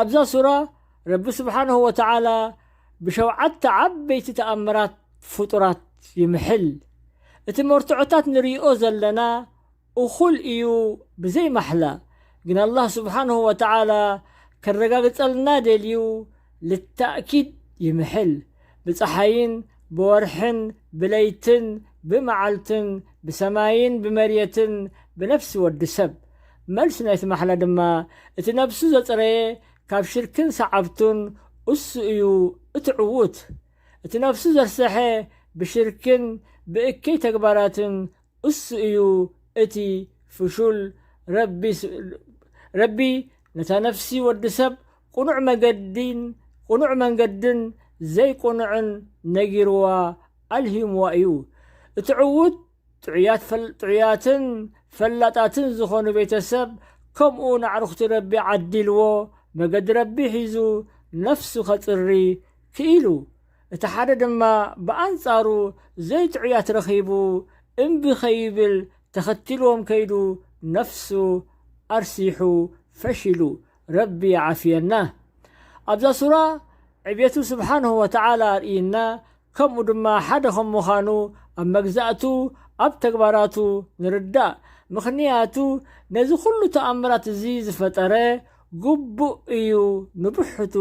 ኣብዛ ሱራ ረቢ ስብሓነሁ ወተዓላ ብሸውዓተ ዓበይቲ ተኣምራት ፍጡራት ይምሕል። እቲ መርትዖታት ንርእዮ ዘለና እኹል እዩ ብዘይ ማሕላ ግን ኣላህ ስብሓነሁ ወተዓላ ከረጋግጸልና ደልዩ ልታእኪድ ይምሕል ብጸሓይን ብወርሕን ብለይትን ብመዓልትን ብሰማይን ብመርየትን ብነፍሲ ወዲ ሰብ መልሲ ናይቲ ማሕላ ድማ እቲ ነብሱ ዘጽረየ ካብ ሽርክን ሰዓብቱን እሱ እዩ እቲ ዕዉት። እቲ ነብሱ ዘርሰሐ ብሽርክን ብእከይ ተግባራትን እሱ እዩ እቲ ፍሹል። ረቢ ነታ ነፍሲ ወዲ ሰብ ቅኑዕ መገዲን ቅኑዕ መንገድን ዘይቅኑዕን ነጊርዋ ኣልሂምዋ እዩ። እቲ ዕዉት ጥዑያትን ፈላጣትን ዝኾኑ ቤተሰብ ከምኡ ንኣዕሩኽቲ ረቢ ዓዲልዎ መገዲ ረቢ ሒዙ ነፍሱ ከጽሪ ክኢሉ እቲ ሓደ ድማ ብኣንጻሩ ዘይጥዑያት ረኺቡ እምቢ ከይብል ተኸቲልዎም ከይዱ ነፍሱ ኣርሲሑ ፈሺሉ ረቢ ይዓፍየና ኣብዛ ሱራ ዕብየቱ ስብሓንሁ ወተዓላ ኣርእይና ከምኡ ድማ ሓደ ከም ምዃኑ ኣብ መግዛእቱ ኣብ ተግባራቱ ንርዳእ ምኽንያቱ ነዚ ኩሉ ተኣምራት እዚ ዝፈጠረ ግቡእ እዩ ንብሕቱ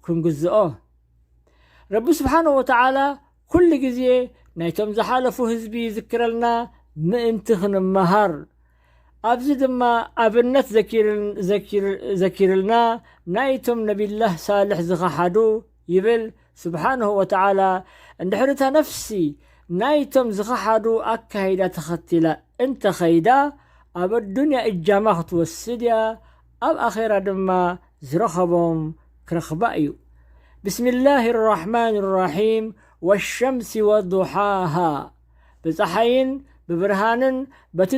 ክንግዝኦ ረቢ ስብሓነ ወተዓላ ኩሉ ግዜ ናይቶም ዝሓለፉ ህዝቢ ይዝክረልና ምእንቲ ክንመሃር ኣብዚ ድማ ኣብነት ዘኪርልና ናይቶም ነቢላህ ሳልሕ ዝኸሓዱ ይብል ስብሓነሁ ወተዓላ እንድሕሪ እታ ነፍሲ ናይቶም ዝኸሓዱ ኣካይዳ ተኸቲላ እንተ ኸይዳ ኣብ ኣዱንያ እጃማ ክትወስድ እያ ኣብ ኣኼራ ድማ ዝረኸቦም ክረኽባ እዩ ብስሚላህ ራሕማን ራሒም ወሸምሲ ወዱሓሃ ብፀሓይን ብብርሃንን በቲ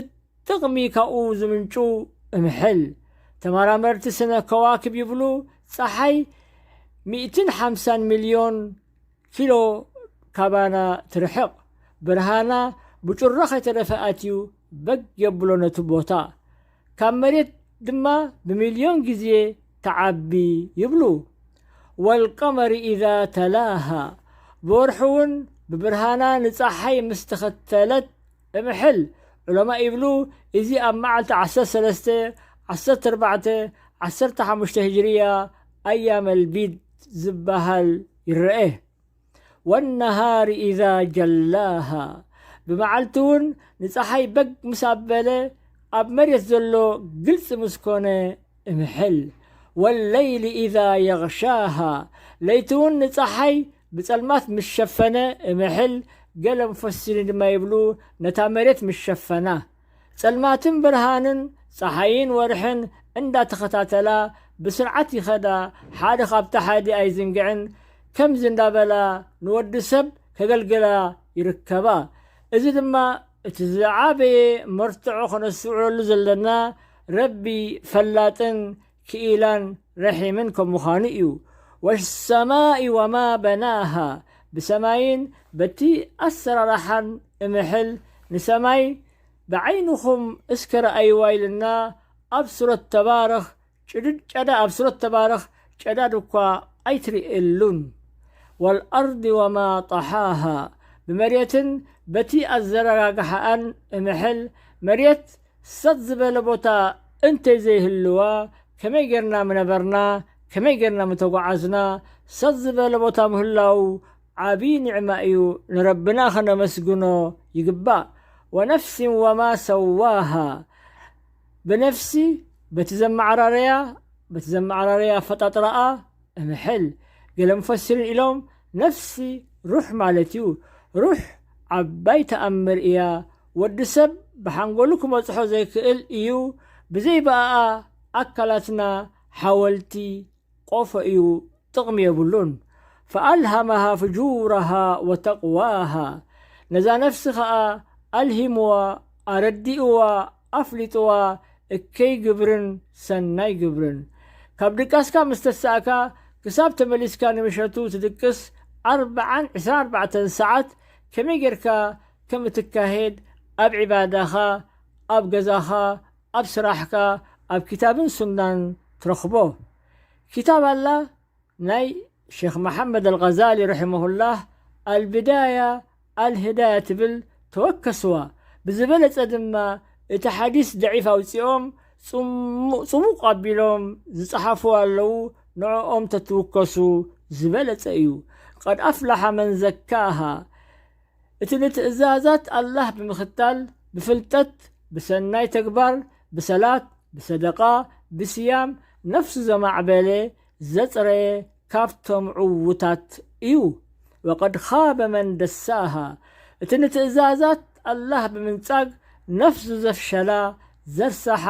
ጥቕሚ ካብኡ ዝምንጩ እምሕል። ተመራመርቲ ስነ ከዋክብ ይብሉ ጸሓይ ሚእትን ሓምሳን ሚልዮን ኪሎ ካባና ትርሕቕ። ብርሃና ብጩራ ከይተረፈ ኣትዩ በግ የብሎ ነቲ ቦታ። ካብ መሬት ድማ ብሚልዮን ግዜ ትዓቢ ይብሉ። ወልቀመሪ ኢዛ ተላሃ ብወርሒ እውን ብብርሃና ንጸሓይ ምስ ተኸተለት እምሕል ዑለማ ይብሉ እዚ ኣብ መዓልቲ ዓሰርተ ሰለስተ፣ ዓሰርተ ኣርባዕተ፣ ዓሰርተ ሓሙሽተ ህጅርያ ኣያመል ቢድ ዝበሃል ይረኤ። ወነሃሪ ኢዛ ጀላሃ ብመዓልቲ ውን ንፀሓይ በግ ምስ ኣበለ ኣብ መሬት ዘሎ ግልፂ ምስ ኮነ እምሕል። ወለይሊ ኢዛ የግሻሃ ለይቲ ውን ንፀሓይ ብጸልማት ምስ ሸፈነ እምሕል ገለም ፎሲሊን ድማ ይብሉ ነታ መሬት ምስ ሸፈና። ጸልማትን ብርሃንን፣ ጸሓይን ወርሕን፣ እንዳ ተኸታተላ ብስርዓት ይኸዳ ሓደ ካብታ ሓዲ ኣይዝንግዕን ከምዚ እንዳ በላ ንወዲ ሰብ ከገልግላ ይርከባ። እዚ ድማ እቲ ዝዓበየ መርትዖ ከነስተውዕለሉ ዘለና ረቢ ፈላጥን ክኢላን ረሒምን ከም ምዃኑ እዩ። ወሰማኢ ወማ በናሃ ብሰማይን በቲ ኣሰራርሓን እምሕል ንሰማይ ብዓይንኹም እስከ ረኣይዋ ኢልና ኣብ ሱረት ተባረኽ ጭድድ ጨዳ ኣብ ሱረት ተባረኽ ጨዳድ እኳ ኣይትርእየሉን ወልኣርዲ ወማ ጠሓሃ ብመሬትን በቲ ኣዘረጋግሓኣን እምሕል መሬት ሰጥ ዝበለ ቦታ እንተይ ዘይህልዋ ከመይ ጌርና ምነበርና ከመይ ጌርና ምተጓዓዝና ሰጥ ዝበለ ቦታ ምህላዉ ዓብዪ ኒዕማ እዩ ንረብና ከነመስግኖ ይግባእ ወነፍሲን ወማ ሰዋሃ ብነፍሲ በቲ ዘመዓራረያ በቲ ዘመዓራረያ ኣፈጣጥራኣ እምሕል ገለ ሙፈሲሪን ኢሎም ነፍሲ ሩሕ ማለት እዩ ሩሕ ዓባይ ተኣምር እያ ወዲ ሰብ ብሓንጎሉ ክበጽሖ ዘይክእል ኢዩ ብዘይ ብኣኣ ኣካላትና ሓወልቲ ቆፎ ኢዩ ጥቅሚ የብሉን ፈኣልሃመሃ ፍጁረሃ ወተቅዋሃ ነዛ ነፍሲ ከኣ ኣልሂምዋ ኣረዲእዋ ኣፍሊጥዋ እከይ ግብርን ሰናይ ግብርን ካብ ድቃስካ ምስ ተሳእካ ክሳብ ተመሊስካ ንምሸቱ ትድቅስ ኣርብዓን ዕስራን ኣርባዕተን ሰዓት ከመይ ጌርካ ከም እትካሄድ ኣብ ዒባዳኻ፣ ኣብ ገዛኻ፣ ኣብ ስራሕካ፣ ኣብ ኪታብን ሱናን ትረኽቦ። ኪታብ ኣላ ናይ ሼኽ መሓመድ ኣልቐዛሊ ረሒመሁላህ ኣልብዳያ ኣልህዳያ ትብል ተወከስዋ፣ ብዝበለጸ ድማ እቲ ሓዲስ ደዒፍ ኣውጺኦም ጽሙ ጽሙቕ ኣቢሎም ዝጸሓፉ ኣለዉ ንዕኦም ተትውከሱ ዝበለጸ እዩ። ቀድ ኣፍላሓ መን ዘካሃ እቲ ንትእዛዛት ኣላህ ብምኽታል፣ ብፍልጠት፣ ብሰናይ ተግባር፣ ብሰላት፣ ብሰደቓ፣ ብሲያም፣ ነፍሱ ዘማዕበለ፣ ዘጽረየ፣ ካብቶም ዕዉታት እዩ። ወቀድ ኻበ መን ደሳሃ፣ እቲ ንትእዛዛት ኣላህ ብምንጻግ ነፍሱ ዘፍሸላ፣ ዘርሳሓ፣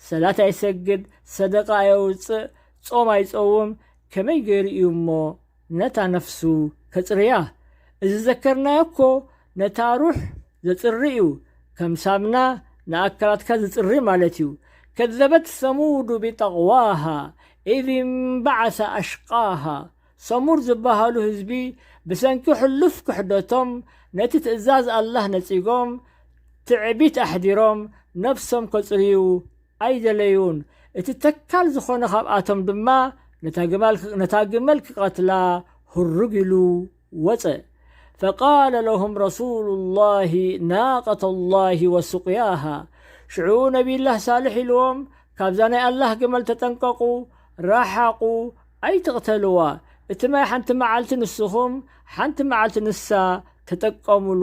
ሰላት ኣይሰግድ፣ ሰደቓ ኣየውጽእ፣ ጾም ኣይጸውም፣ ከመይ ገይሩ እዩ እሞ ነታ ነፍሱ ከጽርያ እዚ ዘከርናዮ እኮ ነታ ሩሕ ዘጽሪ እዩ ከም ሳምና ንኣካላትካ ዝጽሪ ማለት እዩ ከዘበት ሰሙዱ ቢጠቅዋሃ ኢዝ እንበዓሰ ኣሽቃሃ ሰሙድ ዝበሃሉ ህዝቢ ብሰንኪ ሕሉፍ ክሕደቶም ነቲ ትእዛዝ ኣላህ ነጺጎም ትዕቢት ኣሕዲሮም ነፍሶም ከጽርዩ ኣይደለዩን፣ እቲ ተካል ዝኾነ ካብኣቶም ድማ ነታ ግመል ክቐትላ ሁርግ ኢሉ ወጸ። ፈቃለ ለሁም ረሱሉ ላሂ ናቀተ ላሂ ወሱቅያሃ ሽዑ ነቢይላህ ሳልሕ ኢልዎም ካብዛ ናይ ኣላህ ግመል ተጠንቀቑ፣ ራሓቑ፣ ኣይትቕተልዋ፣ እቲ ማይ ሓንቲ መዓልቲ ንስኹም ሓንቲ መዓልቲ ንሳ ተጠቀሙሉ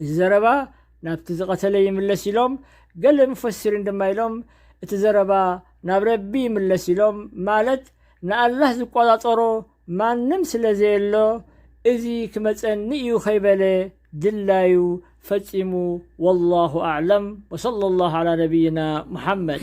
እዚ ዘረባ ናብቲ ዝቐተለ ይምለስ ኢሎም ገለ ሙፈሲሪን ድማ ኢሎም እቲ ዘረባ ናብ ረቢ ይምለስ ኢሎም ማለት ንኣላህ ዝቆጻጸሮ ማንም ስለ ዘየሎ እዚ ክመጸኒ እዩ ከይበለ ድላዩ ፈጺሙ ወላሁ ኣዕለም ወሰለ ላሁ ዓላ ነቢይና ሙሓመድ